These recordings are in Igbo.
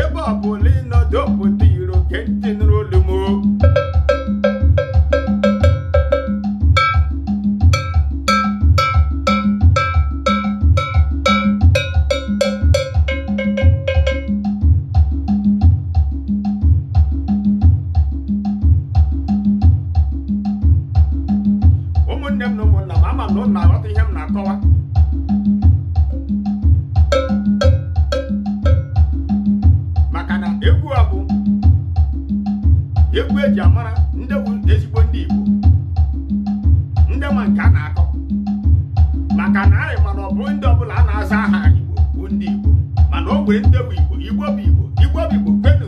ebe ọ bụla ị nọ n'obodo oyibo gee ntị nụrụ olu m o. ụmụnne m na ụmụnna m ama m na ụnụ na-aghọta ihe m na-akọwa maka na egwu a bụ egwu e ji amara ndị bụ ezigbo ndị Igbo ndị ma nke a na-akọ maka na anyị ma na ọ bụrọ ndị ọ bụla na-aza aha Igbo bụ ndị Igbo mana o nwere ndị bụ Igbo Igbo bụ Igbo Igbo bụ Igbo kwenu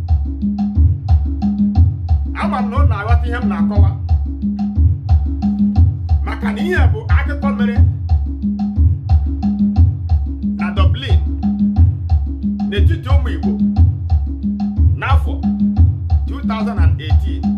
ama m na ụnụ na-aghọta ihe m na-akọwa maka na ihe bụ akụkọ mere na Dublin n'etiti ụmụ Igbo n'afọ 2018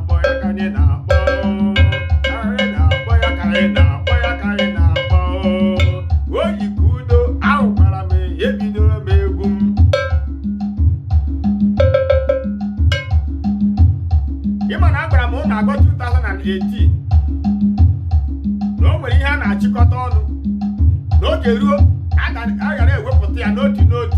akpọ ya ka anyị na-akpọ anyị na-akpọ ya ka anyị na-akpọ ya ka anyị na-akpọ oyi ka udo ahụkwara m ya ebidoro m egwu m ị ma na agwara m ụnụ agwa 2018 na o nwere ihe a na-achịkọta ọnụ na oge ruo a ga- a ghara ewepụta ya n'otu n'otu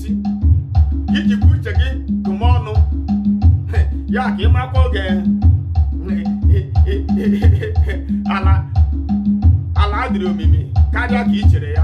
i ji bụ uche gị tụma ọnụ ya ka ị makwa oge ala ala adịrị omimi karịa ka i chere ya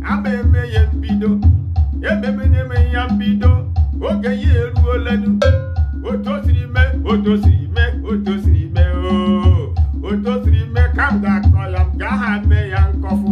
ama eme ya mbido ememenye me ya mbido oge ya eruole nụ otu o siri mee otu o siri mee otu o siri mee oo otu o siri mee ka m ga-akọ ya m gaa ha mee ya nkọfụ